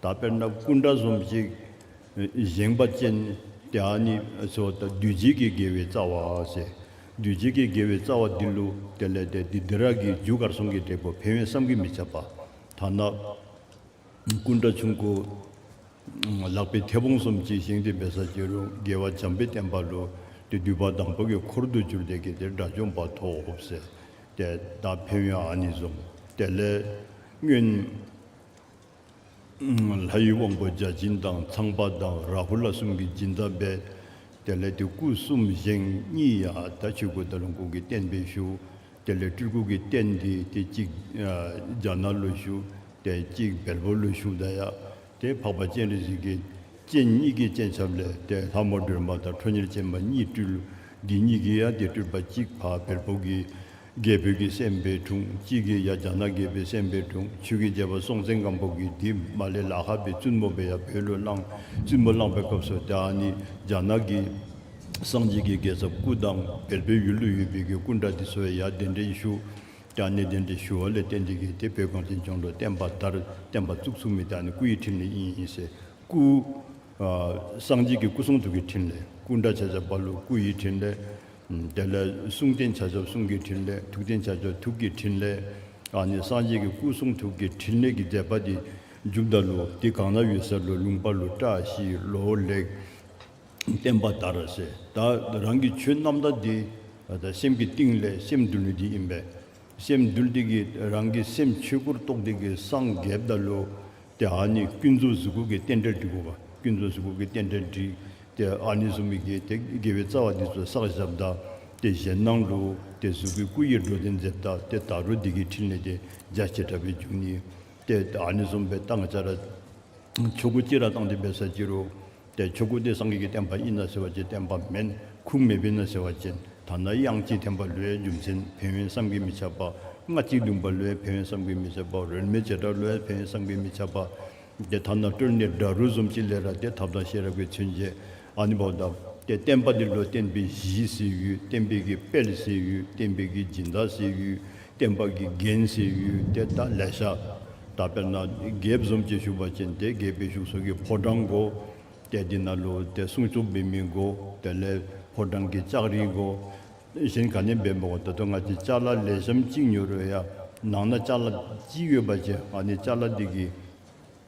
ད་དཔེར་ན་སྐུ་འདྲ་ཟོམ་གཅིག། བཞེངས་པ་ཅན། དེ་ཨ་ནི་སོ། བདུད་བྱེད་ཀྱི་དགེ་བའི་རྩ་བ། བདུད་བྱེད་ཀྱི་དགེ་བའི་རྩ་བ་འདི་ལུ། དེ་ལས་འདས་ཏེ་འདི་རག་གི་རྒྱུ་གར་སོང་གི་འབྲས་བུ་འཕེལ་བས་བསམ་གྱིས་མི་ཁྱབ་པ། ཐ་ན། སྐུ་འདྲ་ཆུང་སྐུ། ལག་པའི་མཐེ་བོང་ཟོམ་གཅིག་བཞེངས་ཏེ་འབད་ས་བྱེད་རུང་དགེ་བ་འཇམ་པའི་བསྟན་པ་ལུ། དེ་བསྡུས་པ་དང་པོ་གི་འཁོར་དུ་གྱུར་ཏེ་གི་དེ་དགྲ་བཅོམ་པ་ཐོབ། ཏདྱ། འཕེལ་བས་ཨ་ནི་ཟོམ། དེ་ལས། སྔོན། ལྷ་ཡི་དབང་པོ་བརྒྱ་བྱིན་དང་ཚངས་པ་དང་རཱ་ཧུ་ལ་གསུམ་གྱི་སྦྱིན་བདག་འབད། དེ་ལས་དེ་སྐུ་གསུམ་བཞེངས་གཉིས་ཡ་ད་ཆོས་སྐུ་དང་ལོངས་སྐུ་གི་རྟེན་འབེབས་བཞུགས། དེ་ལས་སྤྲུལ་སྐུ་གི་རྟེན་འདི་དེ་གཅིག། རྒྱ་ནག་ལོ་བཞུགས་དེ་གཅིག་བལ་པོ་ལོ་བཞུགས་ད་ཡ། དེ་འཕགས་པ་སྤྱན་རས་གཟིགས་ཀྱི་སྤྱན་གཉིས་ཀྱི་སྤྱན་ཆབ་ལས་དེ་ལྷ་མོ་སྒྲོལ་མ་དང་ཁྲོ་གཉེར་ཅན་མ་གཉིས་སྤྲུལ་དགེ་གཉིས་ཀྱི་ཡ་དེ་སྤྲུལ་པ་གཅིག་འཕགས་བལ་པོ་གི་རྒྱས་བོད་ཀྱི་སེམས་དཔའི་དྲུང་གཅིག་གིས་ཡ་བྱ་ན་རྒྱས་བོད་སེམས་དཔའི་དྲུང་ཆོས་ཀྱི་རྒྱལ་པོ་སྲོང་བཙན་སྒམ་པོ་གིས་འདི་མ་ལས་ལ་ཧ་པའི་བཙུན་མོ་བས་ཡ་བོད་ལོ་གླང་བཙུན་མོ་བླངས་པའི་སྐབས་སུ་དེ་ཨ་ནི་རྒྱ་ནག་གི་སངས་རྒྱས་ཀྱི་རྒྱལ་ཚབ་སྐུ་དང་བེར་པའི་ཡུལ་ལུ་ཡུལ་བེར་གྱི་སྐུ་འདྲ་དེ་སོ་བས་ཡ་གདན་འདྲེན་ཞུ་དེ་ཨ་ནི་གདན་འདྲེན་ཞུ་བ་ལས་བསྟན་འདི་གིས་དེ་བོད་གངས་ཅན་ལྗོངས་ལ་བསྟན་པ་ལྟར་བསྟན་པ་བཙུགས་ཚུགས་མི་དེ་ཨ་ནི་སྐུ་ཡི་ཕྲིན་ལས་ཡིན་ཡིན་ཟེར་སྐུ། སངས་རྒྱས་ཀྱི་སྐུ་གསུང་ཐུགས་ཀྱི་ཕྲིན་ལས་སྐུ་འདྲ་བྱས་བྱས་པ་ལུ་སྐུ་ཡི་ཕྲིན་ལས། དེ་ལས་གསུང་རྟེན་བྱ་ཆོག་གསུང་གི་ཕྲིན་ལས་ཐུགས་རྟེན་བྱ་ཆོག་ཐུགས་ཀྱི་ཕྲིན་ལས། ཨ་ནི་སངས་རྒྱས་ཀྱི་སྐུ་གསུང་ཐུགས་ཀྱི་ཕྲིན་ལས་ཀྱི་མཛད་པ་འདི་མཇུག་བཟླ་ལུགས་འདི་གང་ན་ཡོད་ཟེར་ལོ་ལུང་པ་ལོ་བཀྲ་ཤིས་ལོ་ལེགས་བསྟན་པ་ལྟར་བྱས་བདག་རང་གི་ཆོས་རྣམ་དག་འདི་ད་སེམས་ཀྱི་གཏིང་ལས་སེམས་འདུལ་ལུགས་འདི་ཡིན་པས། སེམས་འདུལ་སྟེགས་ཀྱིས་རང་གི་སེམས་ཆོས་སྐུར་རྟོགས་སྟེགས་ཀྱི་སངས་རྒྱས་བཟླ་ལུགས་དེ་ཨཱ་ནི་ཀུན་རྫོབ་གཟུགས་སྐུ་གི་རྟེན་འབྲེལ་འགྲིག་གོ། ཀུན་རྫོབ་གཟུགས་སྐུ་གི་རྟེན་འབྲེལ་འགྲིག། དེ་ཨཱ་ནི་གཟུགས་མི་དགེ། དེ་དགེ་བའི་རྩ་བ་འདི་ཚོ་བསགས་ཞབས་བདག། དེ་གཞན་སྣང་ལུགས། དེ་གཟུགས་སྐུའི་སྐུ་ཡི་འགྲོ་རྟེན་རྫས་བདག། དེ་དག་རོ་སྡེ་དགེའི་ཕྲིན་ལས་ཏེ་རྒྱ་ཆེ་དྲག་པའི་རྒྱུ་ནི། དེ་ཨཱ་ནི་གཟུང་བའི་རྟགས་ལྔ་སྦྱར། ཆོས་སྐུ་སྐྱེ་ར་བཏང་སྟེ་འབད་ས་སྐྱེ་རུ། དེ་ཆོས་སྐུ་སྟེ་སངས་རྒྱས་ཀྱི་བསྟན་པ་དབྱིན་ན་ཟེར་བ་ཅན་བསྟན་པ་མེན་ཁུང་མེ་བྷིན་ན་ཟེར་བ་ཅན་དང་ན་དབྱངས་སྐྱིད་འཐེན་པ་ལོའི་རྒྱུ་མཚན་བོན་བྷིན་བསམ་གྱིས་མི་ཁྱབ་པ་ལྔ་གཅིག་བདུན་པ་ལོའི་བོན་བྷིན་བསམ་གྱིས་མི་ཁྱབ་པ་རོལ་མོའི་བྱེ་བྲག་ལོའི་བོན་བྷིན་བསམ་གྱིས་མི་ཁྱབ་པ། དེ་ཐ་ན་སྤྲོས་གནས་སྒྲ་རུལ་སུམ་སྤྱི་ལས་ར་སྟེ་ཐབས་དང་ཤེས་རབ་ཀྱི་ཚུལ་འབྱེད་ཨ་ནི་བོ་ད། དེ་བསྟན་པ་འདི་ལོ་བསྟན་པའི་གཞིའི་སྲིད་ཡུལ་བསྟན་པའི་གི་དཔལ་སྲིད་ཡུལ་བསྟན་པའི་གི་སྦྱིན་བདག་སྲིད་ཡུལ་བསྟན་པ་གྱི་རྒྱན་ཟེར་ཡུལ་དེ་ད་ལས་ས་ད་དཔེར་ན་དགེ་བཟོམ་གྱི་བཞུགས་པ་ཅན་དེ་དགེ་བའི་བཞུགས་སོགས་ཀྱི་ཕོ་བྲང་གོ། དེ་འདི་ན་ལོ་དེ་གསུང་རྩོམ་འབེལ་མིན་གོ་དེ་ལས་ཕོ་བྲང་གི་ལྕགས་རིང་གོ། གཞན་ག་ནས་འབེལ་མི་གོ་ད་དུ་ང་ཅི་ལྕགས་ལ་ལས་ཞམ་གཅིག་ཉོ་རོལ་ཡ་ནང་ན་ལྕགས་ལ་གཅིག་ཡོད་པ་ཅན་ཨ་ནི་ལྕགས་ལ་འདི་གི།